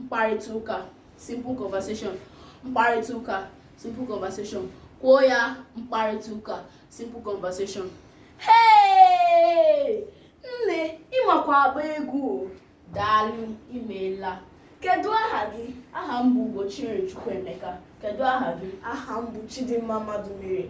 mkparịta ụka simple conversation mkparịta ụka simple conversation kwuo ya mkparịta ụka simple conversation hey nne ị makwa agba egwu daalụ imeela kedu aha gị aha m bụ Ugochiri Chukwuemeka kedu aha gị aha m bụ Chidimma Madumere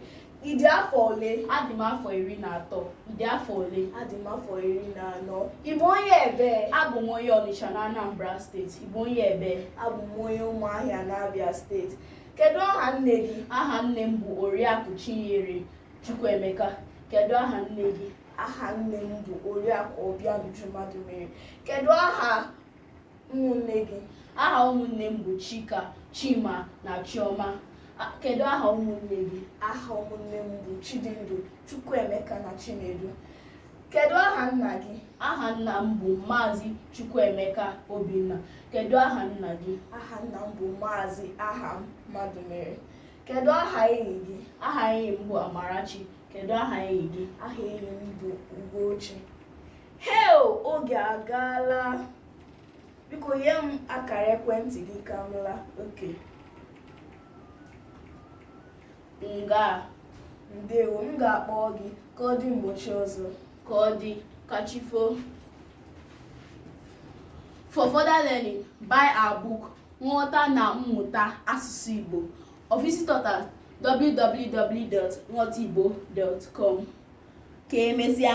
Ị dị afọ ole? Adị m afọ iri na atọ. Ị dị afọ ole? Adị m afọ iri na anọ. Ị bụ onye ebe? Abụ m onye Ọnịcha na Anambra steeti. Ị bụ onye ebe? Abụ m onye Ụmụahịa na Abia steeti. Kedu aha nne gị? Aha nne m bụ Oriakụ Chinyere Chukwuemeka. Kedu aha nne gị? Aha nne m bụ Oriakụ Obianuju Madumere. Kedu aha ụmụnne gị aha ụmụnne m bụ chika chima na chioma kedu aha ụmụnne gị aha ụmụnne m bụ chidindu chukwuemeka na chinedu kedu aha nna gị aha nna m bụ maazị chukwuemeka obinna kedu aha nna gị aha nna m bụ maazị aham madumere kedu aha enyi gị aha enyi m bụ amarachi kedu aha enyi gị aha enyi m bụ ugochi hey oge agaala biko nye m akara ekwentị gị ka m laa okay ngaa ndewo m ga-akpọ gị ka ọ dị ụbọchị ọzọ ka ọ dị ka chi foo for further learning buy our book nghọta na mmụta asụsụ igbo or visit us at www.nghọtaigbo.com ka emesịa